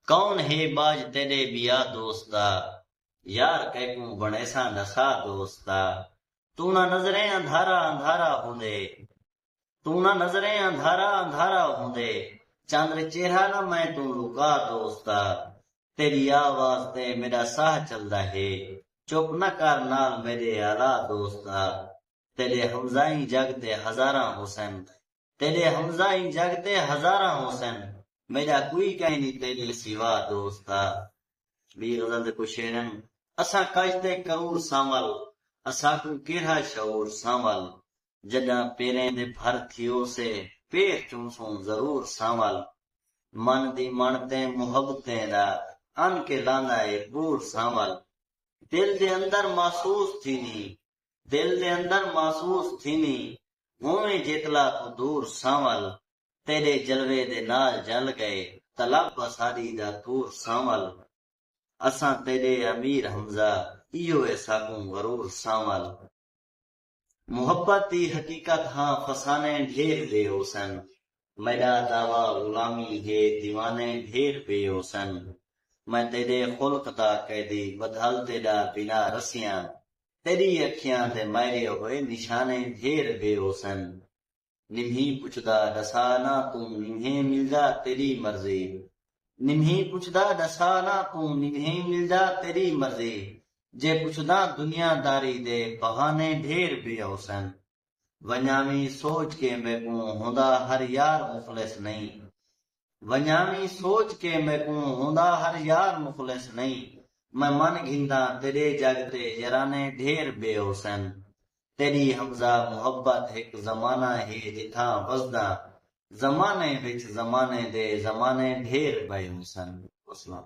کون ہے باج تیݙے ٻیا دوستا یار کیکوں بݨیساں نسا دوستا توں نہ نظریں اندھارا اندھارا ہوندے توں نہ نظریں اندھارا اندھارا ہوندے چندر چہرہ نہ میں توں لکا دوستا تیݙی آ واز تے میݙا ساہ چلدا ہے چپ نہ کر نال میݙے آلا دوستا تیݙے ہمزائیں جڳ تے ہزاراں ہوسن تیݙے حمزہ ایں جڳ تے ہزاراں ہوسن میݙا کوئی کائنی تیݙے سوا دوست آ ٻی غزل دے کجھ شعر ہن۔ اساں کج تے کرور ساں ول اساکوں کیرھا شعور ساں ول جݙاں پیریں دے بھر تھیوسے پیر چونسوں ضرور ساں ول من دی مݨ تیں محبتیں دا ان کے لاندا اے بور ساں ول دل دے اندر محسوس تھیندی دل دے اندر محسوس تھیندیں ہوویں جیتلا کوں دور سانول تیڈے جلوے دے نال جل گئے طلب اساڈی دا طور سانول اساں تیڈے امیر حمزہ ایہو ہے ساکوں غرور سانول محبت دی حقیقت ہاں فسانے ڈھیر دے ہوسن میݙا دعوی غلامی ہے دیوانے ڈھیر پئے ہوسن میں تیݙے خلق دا قیدی ودھل تیݙا بنا رسیاں تیݙی اکھیاں تے مائرے ہوئے نشانے ڈھیر پئے ہوسن نمہیں پچھدا ݙسا نہ توں نمہیں ملدا تیݙی مرضی نمہیں پچھدا ݙسا نہ توں نمہیں ملدا تیݙی مرضی جے پچھداں دنیا داری دے بہانے ڈھیر پئے ہوسن۔ ونجاویں سوچ کے میکوں ہوندا ہر یار مخلص نئیں ونجاویں سوچ کے میکوں ہوندا ہر یار مخلص نئیں میں من گھنداں تیڈے جگ تے یرانے ڈھیر بے ہوسن تیڈی حمزہ محبت ہک زمانہ ہے جتھاں وسداں زمانے وچ زمانے دے زمانے ڈھیر بئے ہوسن وسلام۔